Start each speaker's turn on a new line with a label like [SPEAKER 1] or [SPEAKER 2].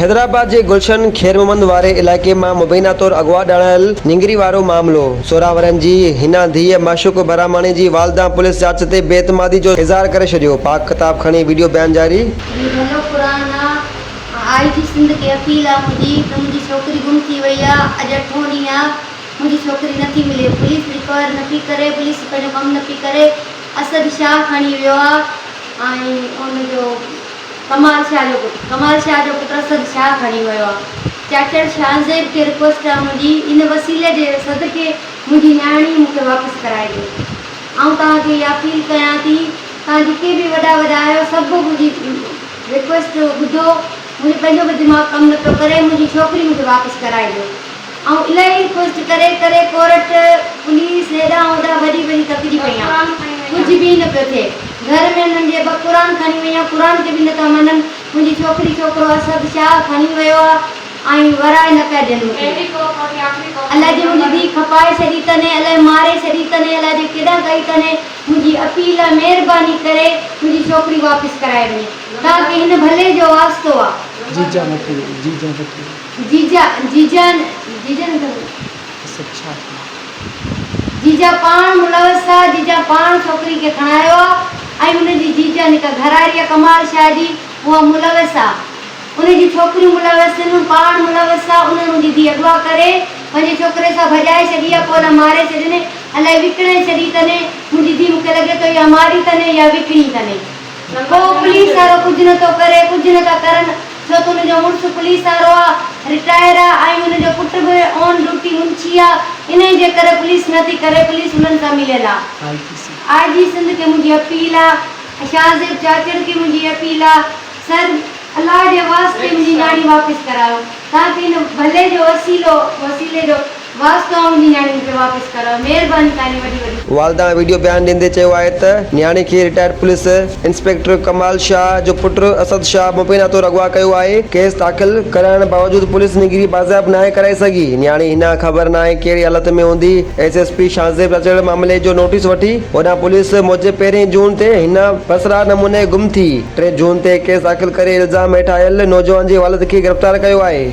[SPEAKER 1] حيدرآباد جي گلشن خيرمحمد واري علائقي مان مبينا طور اغوا ڏاڙايل نينگري وارو معاملو، سورهن ورهين جي حنا ڌيء معشوق الرحماڻي جي والدان پوليس جاچ تي بي اعتمادي جو اظهار ڪري ڇڏيو، پاڪ ڪتاب کڻي وڊيو بيان جاري. جي ڀلو قرآن نه آء جي سنڌ کي اپيل آ منهنجي ته منهنجي
[SPEAKER 2] ڇوڪري گم ٿي وئي آ اڄ اٺون ڏينهن آ منهنجي ڇوڪري نه ٿي ملي. پوليس ريڪوائر نه پي ڪري. پوليس پنهنجو ڪم نه پي ڪري. اسد شاهه کڻي ويو آ ۽ ان جو ڪمال شاهه جو پٽ ڪمال شاهه جو پٽ اسد شاهه کڻي ويو آ. چاچڙ شاهزيب کي رڪويسٽ آ منهنجي ان وسيلي جي صدقي منهنجي نياڻي مون کي واپس ڪرائي ڏيو. آئون توهان کي اها اپيل ڪيان ٿي. توهان جيڪي به وڏا وڏا آهيو سڀ منهنجي رڪويسٽ ٻڌو. منهنجو پنهنجو به دماغ ڪم نه پيو ڪري. منهنجي ڇوڪري مون کي واپس ڪرائي ڏيو. آئون الائي پشت ڪري ڪري ڪورٽ پوليس هيڏانهن هوڏانهن ڀڄي ڀڄي ٿڪجي پئي آهيان ڪجهه به نه پيو ٿئي گهر ۾ هنن جي ٻه قرآن کڻي وئي آهيان قرآن کي به نه ٿا مڃن منهنجي ڇوڪري ڇوڪرو اسد شاهه کڻي ويو آهي ۽ ورائي نه پيا ڏين مون کي الائي جي منهنجي ڌيء کپائي ڇڏي تنهن الائي ماري ڇڏي تنهن الائي جي ڪيڏانهن ڪئي تنهن منهنجي اپيل آهي مهرباني ڪري منهنجي ڇوڪري واپس ڪرائي وڃي تاڪه هن ڀلي جو واسطو آهي. جي جان وٺي ويو جي جان وٺي ويو. جيجا جيجا نه جيجا نه ٿو ڪري سڀ ڇا ٿيو جيجا پاڻ ملوث ٿا جيجا پاڻ ڇوڪري کي کڻايو آ ۽ ان جي جيجا نڪا گهراري آ ڪمال شاهه جي اها ملوث آ ان جون ڇوڪريون ملوث ٿين هن پاڻ ملوث آ انهن ان جي ڌي اغوا ڪري پنهنجي ڇوڪري سان ڀڄائي ڇڏي آ پوء نه ماري ڇڏين الائي وڪڻي ڇڏي تني منهنجي ڌي مونکي لڳي ٿو يا ماري تني يا وڪڻي تني. ڪو پوليس وارو ڪجهه نه ٿو ڪري، ڪجهه نه ٿا ڪرن، ڇو ته ان جو مڙس پوليس وارو آ، رٽائر آ ۽ ان جو پٽ به آن ڊيوٽي منشي آ، انهي جي ڪري پوليس نه ٿي ڪري، پوليس انهن سان مليل آ. آء جي سنڌ کي منهنجي اپيل آ، شاهه زيب چاچڙ کي منهنجي اپيل آ، سر الله جي واسطي منهنجي نياڻي واپس ڪرايو، تان ڪري هن ڀلي جو وسيلو، وسيلي جو. واسطو آ منهنجي نياڻي مونکي واپس ڪر مهرباني
[SPEAKER 1] تهانجي وڏي وڏي. والده ويڊيو بيان ڏيندي چيو آهي ته نياڻي کي retired police inspector Kamal Shah جو پٽ اسد شاهه مبينا طور اغوا ڪيو آهي، ڪيس داخل ڪرائڻ باوجود پوليس نيگري بازياب ناهي ڪرائي سگهي، نياڻي هن آ خبر ناهي ڪهڙي حالت ۾ هوندي، S S P Shahzeb Chachar معاملي جو نوٽيس وٺي، هوڏانهن پوليس موجب پهرين جون تي هن پراسرار نموني گم ٿي، ٽي جون تي ڪيس داخل ڪري الزام هيٺ آيل نوجوان جي والد کي گرفتار ڪيو آهي.